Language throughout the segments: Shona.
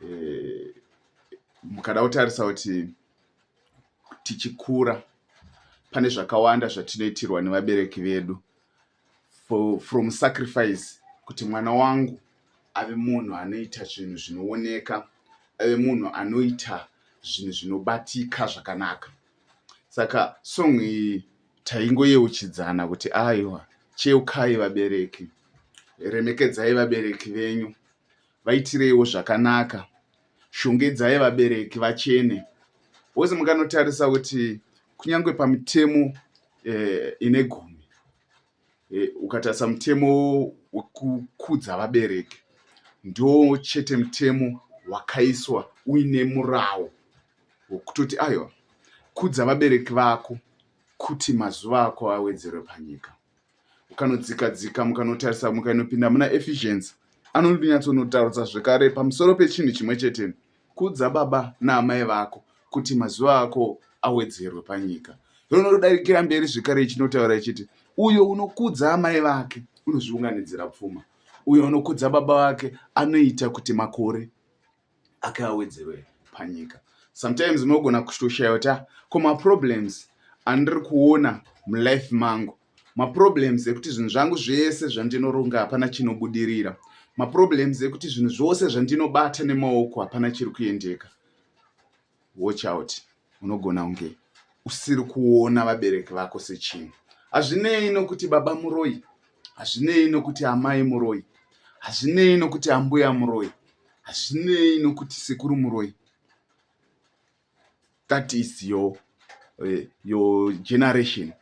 eh, mukada kutarisa kuti tichikura pane zvakawanda zvatinoitirwa nevabereki vedu For, from sacrifice kuti mwana wangu ave munhu anoita zvinhu zvinooneka ave munhu anoita zvinhu zvinobatika zvakanaka saka song iyi taingoyeuchidzana kuti aiwa cheukai vabereki remekedzai vabereki venyu Vaitireiwo zvakanaka, shongedzai vabereki vachene. Wose mukanotarisa kuti kunyange pamitemo eh, ine gumi eh, ukatarisa mutemo wekukudza vabereki ndo chete mutemo wakaiswa uine murawo wokutoti aiwa kudza vabereki vako kuti mazuva ako awedzerwe panyika. ukanodzika dzika mukanotarisa mukainopinda muna efficiency anonyatsonotaurudza zvekare pamusoro pechinhu chimwe chete kudza baba naamai vako kuti mazuva ako awedzerwe panyika ronodarikira mberi zvekare ichinotaura ichiti uyo unokudza amai vake unozviunganidzira pfuma uyo unokudza baba vake anoita kuti makore ake awedzerwe panyika sometimes unogona kutoshaya kuti ah, ko maproblems andiri kuona mulife mangu maproblems ekuti zvinhu zvangu zvese zvandinoronga hapana chinobudirira maproblems ekuti zvinhu zvose zvandinobata nemaoko hapana chiri kuendeka Watch out unogona kunge usiri kuona vabereki vako sechinhu. Hazvinei nokuti baba muroi, hazvinei nokuti amai muroi, hazvinei nokuti ambuya muroi, hazvinei nokuti sekuru muroi. That is your, uh, your generation.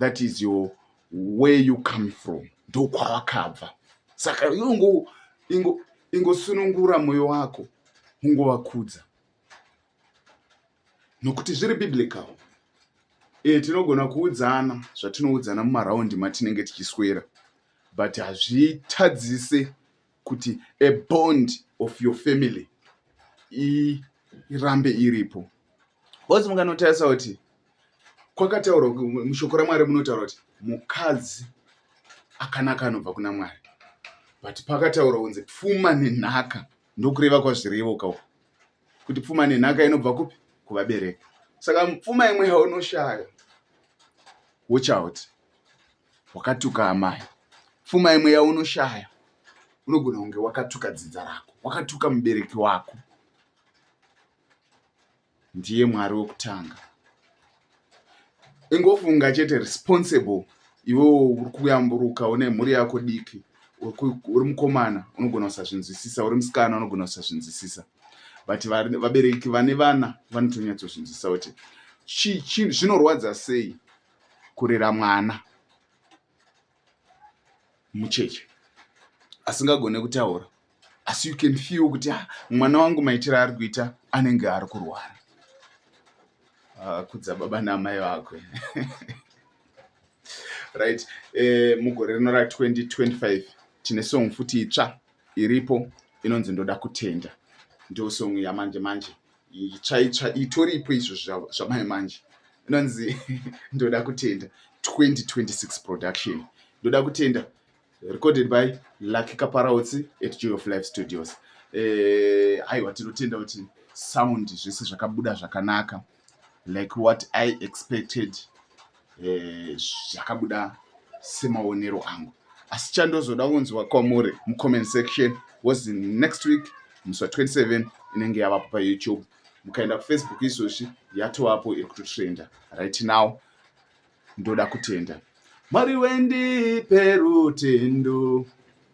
that is your where you come from ndokwawakabva saka ingo ingo ingosunungura moyo wako ungovakudza nokuti zviri biblical e tinogona kuudzana zvatinoudzana mumaraundi matinenge tichiswera but hazvitadzise kuti a bond of your family irambe iripo bcause munganotarisa kuti kwakataurwa mushoko ramwari munotaura kuti mukadzi akanaka anobva kuna mwari but pakataurwa kunzi pfuma nenhaka ndokureva kwazvirevoka uku kuti pfuma nenhaka inobva kupi kuvabereki saka pfuma imwe yaunoshaya watch out Wakatuka amai. Pfuma imwe yaunoshaya unogona kunge wakatuka dzinza rako, wakatuka mubereki wako. Ndiye Mwari wekutanga. Ingofunga chete responsible iwewo uri kuyamburuka une mhuri yako diki uri mukomana unogona kusazvinzwisisa uri musikana unogona kusazvinzwisisa but vabereki vane vana vanotonyatsozvinzwisisa kuti zvinorwadza sei kurera mwana mucheche asingagone kutaura asi you can feel kuti ah, mwana wangu maitiro ari kuita anenge ari kurwara ah, kudza baba naamai vakwe right eh, mugore rino ra 2025 tine song futi itsva iripo inonzi ndoda kutenda ndo song yamanje manje itsvaitsva itoripo izvo zvamai manje inonzi ndoda kutenda 2026 production ndoda kutenda recorded by lucky kaparautsi at joy of life studios eh, aiwa tinotenda kuti sound zvese zvakabuda zvakanaka like what i expected eh, zvakabuda e, semaonero angu asi chandozoda kunzwa kwamuri mucomment section was next week musi wa 27 inenge yavapo payoutube mukaenda kufacebook izvozvi yatovapo iri kutotrenda right now ndoda kutenda mwari wendipe rutendo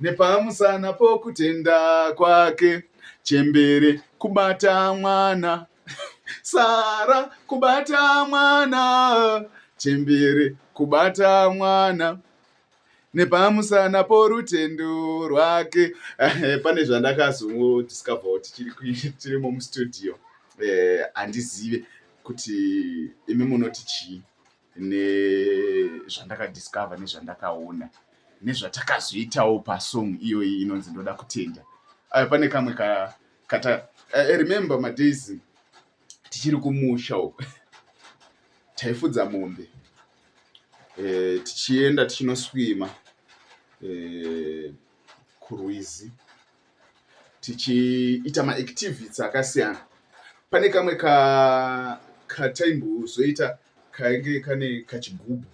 nepamusana pokutenda kwake chembere kubata mwana sara kubata mwana chembere kubata mwana nepamusana porutendo rwake eh, pane zvandakazongodiscover kuti tirimo mustudio eh, handizive kuti imi munoti chii nezvandakadiscover nezvandakaona nezvatakazoitawo pasong iyoyi inonzi ndoda kutenda ayo pane kamwe kata eh, i remember madays tichiri kumusha uko taifudza mombe eh, tichienda tichinoswima eh, kurwizi tichiita maactivities akasiyana pane kamwe kataimbozoita kainge kane kachigubhu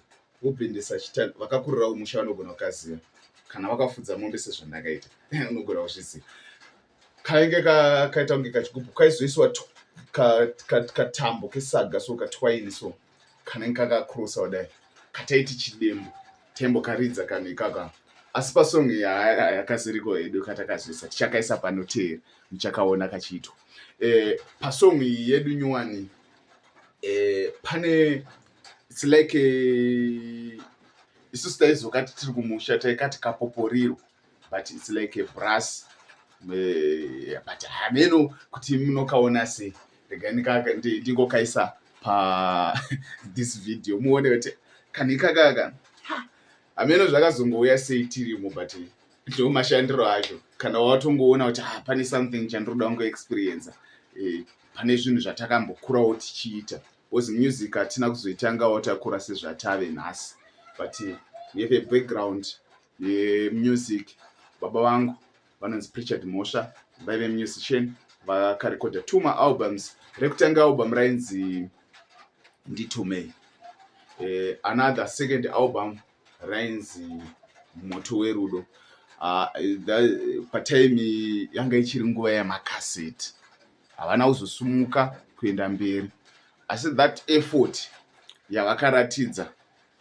wobhendesa chitani vakakurirawo musha vanogona kukaziva kana wakafudza mombe sezvandakaita unogona kuzviziva kainge kakaita kunge kachigubhu kaizoiswa katambo kesaga so katwaini so kanenge kakakrosa kudai kataiti chidembo taimbokaridza kanhu ikaka asi pasong yakaziriko hedu katakazoisa tichakaisa panoteera muchakaona kachiitwa eh, pasong iyi yedu nyuwani eh, pane its like eh, isu sitaizokati tiri kumusha taikati kapoporiro but it's like a brass eh, but hameno kuti munokaona sei rega ndingokaisa pa this video muone kuti kanikakaka hameno zvakazongouya sei tirimo but ndo mashandiro acho kana watongoona kuti ha ah, pane something chandinoda kungo experience eh, pane zvinhu zvatakambokurawo tichiita bcause music hatina kuzoitangawo takura sezvatave nhasi but we have a background yemusic baba vangu vanonzi prichard mhosva vaive musician vakarekodha two maalbums rekutanga album rainzi nditumei eh, another second album rainzi moto werudo uh, patime yanga ichiri nguva yamakaseti havana kuzosumuka kuenda mberi asi that effort yavakaratidza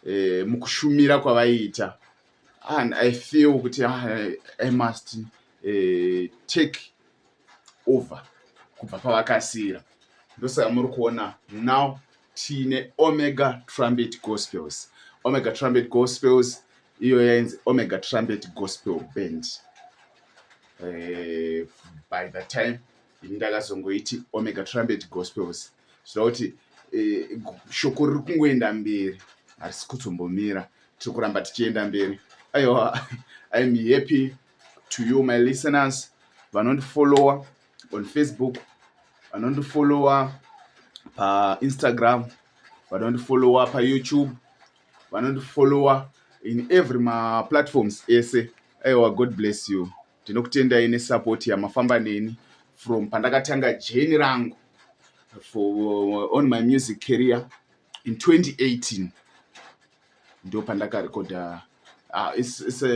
eh, mukushumira kwavaiita and i feel kuti ah, i must eh, take over kubva pavakasiyira ndosaka muri kuona now tiine omega trumpet gospels omega trumpet gospels iyo yainzi omega trumpet gospel band eh, by the time ini ndakazongoiti omega trumpet gospels zvichita kuti eh, shoko riri kungoenda mberi harisi kuzombomira tiri kuramba tichienda mberi aiwa iam happy to you my listeners vanondifollowa on facebook vanondifollowa painstagram vanondifollowa payoutube vanondifollowa in every maplatforms ese aiwa god bless you Ndinokutendai nesupport yamafamba neni from pandakatanga journey rangu for uh, on my music career in 2018 ndo pandakarekoda uh, it's, it's a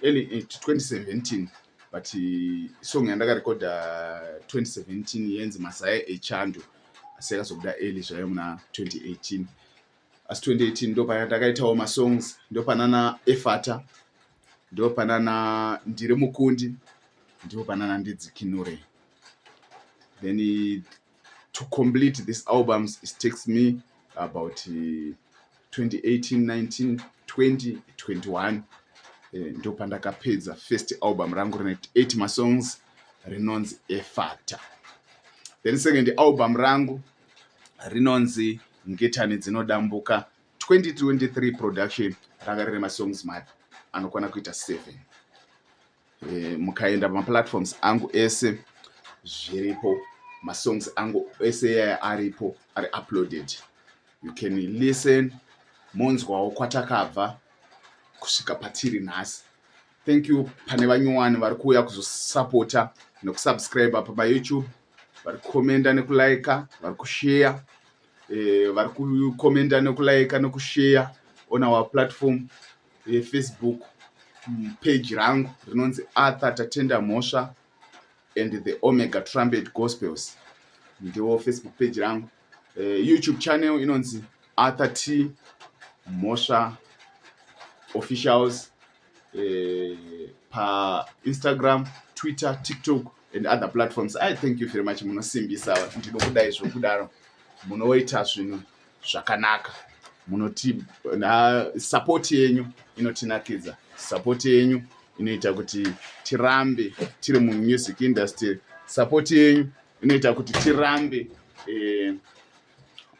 early 2017 eh, but uh, song yandakarekoda 2017 yenzi masaya echando asi yakazobuda early zvayo muna 2018 asi 2018 ndopaya ndakaitawo masongs ndopanana efata ndopanana ndiri mukundi ndopanana ndidzikinure then it, to complete this albums it takes me about uh, 2018 19 20 21 eh, ndopandakapedza first album rangu rine 8 masongs rinonzi efata then second album rangu rinonzi Ngetani Dzinodambuka 2023 production ranga rine masongs mad anokwana kuita 7 e, mukaenda pamaplatforms angu ese zviripo masongs angu ese yaya aripo ari uploaded you can listen monzwawo kwatakabva kusvika patiri nhasi thank you pane vanyowani vari kuuya kuzosapota nekusubscribe apa payoutube vari kukomenda nekulaika vari kusheya eh, vari kukomenda nekulaika nekusheya on our platform yefacebook mm, page rangu rinonzi arthur tatenda mhosva and the omega trumpet gospels ndiwo facebook page rangu eh, youtube channel inonzi arthur t mhosva officials eh, painstagram twitter tiktok and other platforms i thank you very much munosimbisa ndinokudai zvokudaro munoita zvinhu zvakanaka munoti na support yenyu inotinakidza support yenyu inoita kuti tirambe tiri mumusic industry support yenyu inoita kuti tirambe eh,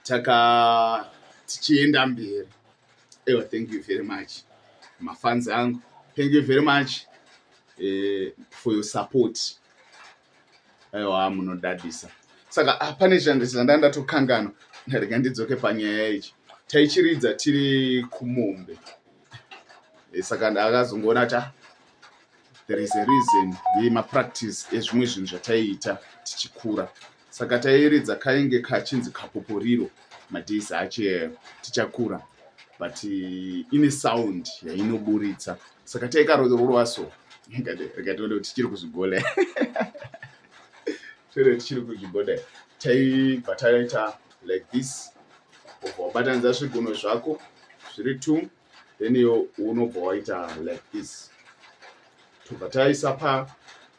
taka tichienda mberi Ewa, thank you very much mafans angu, thank you very much eh, for your support. Ewa, munodadisa. Saka ah, pane chando chanda ndatokangana, ndarega ndidzoke panyaya ichi. Taichiridza tiri kumombe, eh, saka ndakazongoona ta ah, there is a reason yemapractice ezvimwe zvinhu zvataiita tichikura saka tairidza kainge kachinzi kapoporiro madays ache tichakura but eh, ine sound yainoburitsa saka taikarororwa so rikatoona kuti tichiri kuzvigola toona tichiri kuzvigola taibva taita like this ubatanidza zvigunwe zvako zviri two then iwo unobva waita like this tobva taisa pa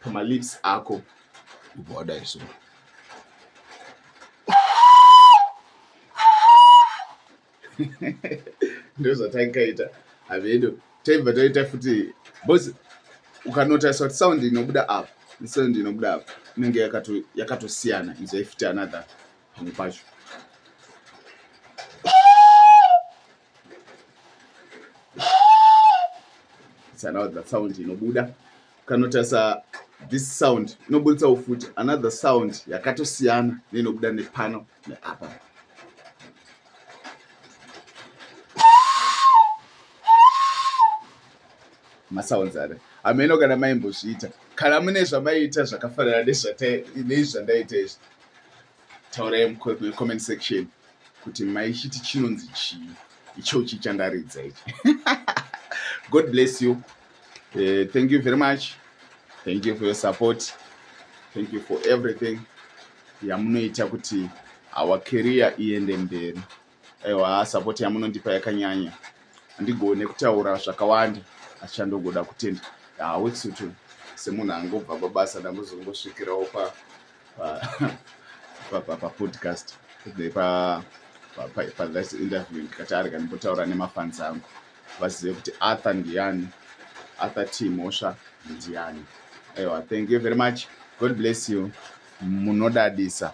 pamalips ako ubva wadai so ndozvatangaita avedo taibva taita futi bos ukanotarisa kuti sound inobuda apo nesound inobuda apo inenge yakatosiyana izo ifiti another pamwe pacho Now that sound inobuda kanotarisa this sound inobuditsa ufuti another sound yakatosiyana neinobuda nepano neapa masounds are hameno kana maimbozviita kana mune zvamaiita zvakafanana nezvandaita izvi taurai mucomment section kuti maichiti chinonzi chii ichochi chandaridza ichi god bless you uh, thank you very much thank you for your support thank you for everything yamunoita kuti our career iende mberi Aiwa support yamunondipa yakanyanya. Handigone kutaura zvakawanda asi chandogoda kutenda ah, weksutu semunhu angobva pabasa ndambozongosvikirawo pa pa pa podcast pa pa this interview ndikati arega ndimbotaura nemafans angu vazive kuti arthur ndiyani arthur t mhosva ndiyani aiwa thank you very much god bless you munodadisa